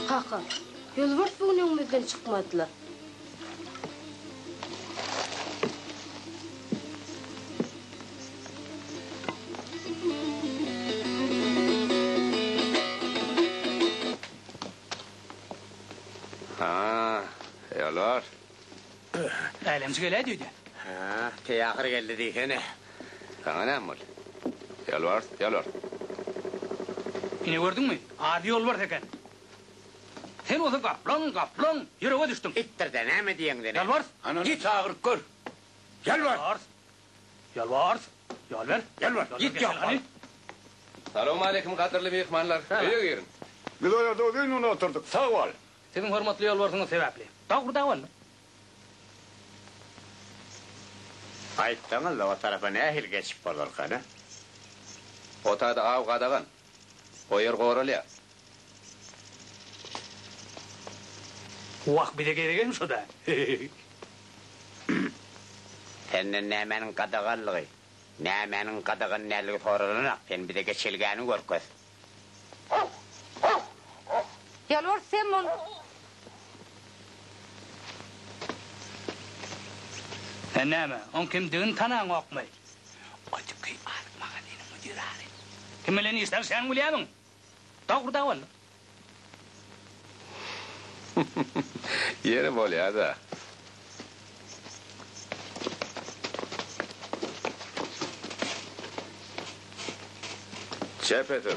Kaka, ýolbars bu gün öňümizden çykmady-la. Älemçi geläýdi öýdýän. Hä, teýahyr geldi diýsene. Saňa näme boldy? Ýolbars, ýolbars. Ine gördüňmi, ady ýolbars eken. Sen bolsa gaplaň, gaplaň, ýürege düşdüň. Itdir-de, näme diýeňi diňe. Ýolbars! Ana, git agyryp gör. Ýolbars! Ýolbars! Ýol ber. Ýolbars, git ýok bol. Salowmaleýkim, gadyrly myhmanlar. Öýe giriň. Biz o ýerde uzyn gün oturdyk. Sag bol. Siziň hormatly ýolbarsyňyz sebäpli. Dag bir dag boldy. Gaýtsaňyz-da o tarapa nähili geçip bolarkana? O taýda aw gadagan. O ýer goralýar. Wah, bize gerek hem şo-da. Senden nämäniň gadaganlygy, nämäniň gadagan däldigi soralanak, sen bize geçelgäni görkez. Ýalbars sen bol. Sen näme, oň kimdigini tanaňokmy? Ötüki azyk magazynyň müdiri-aly. Kim bilen işleşýäniňi bilýärmiň? Dogry-da ol. Ýeri bolýa-da. Çepesir.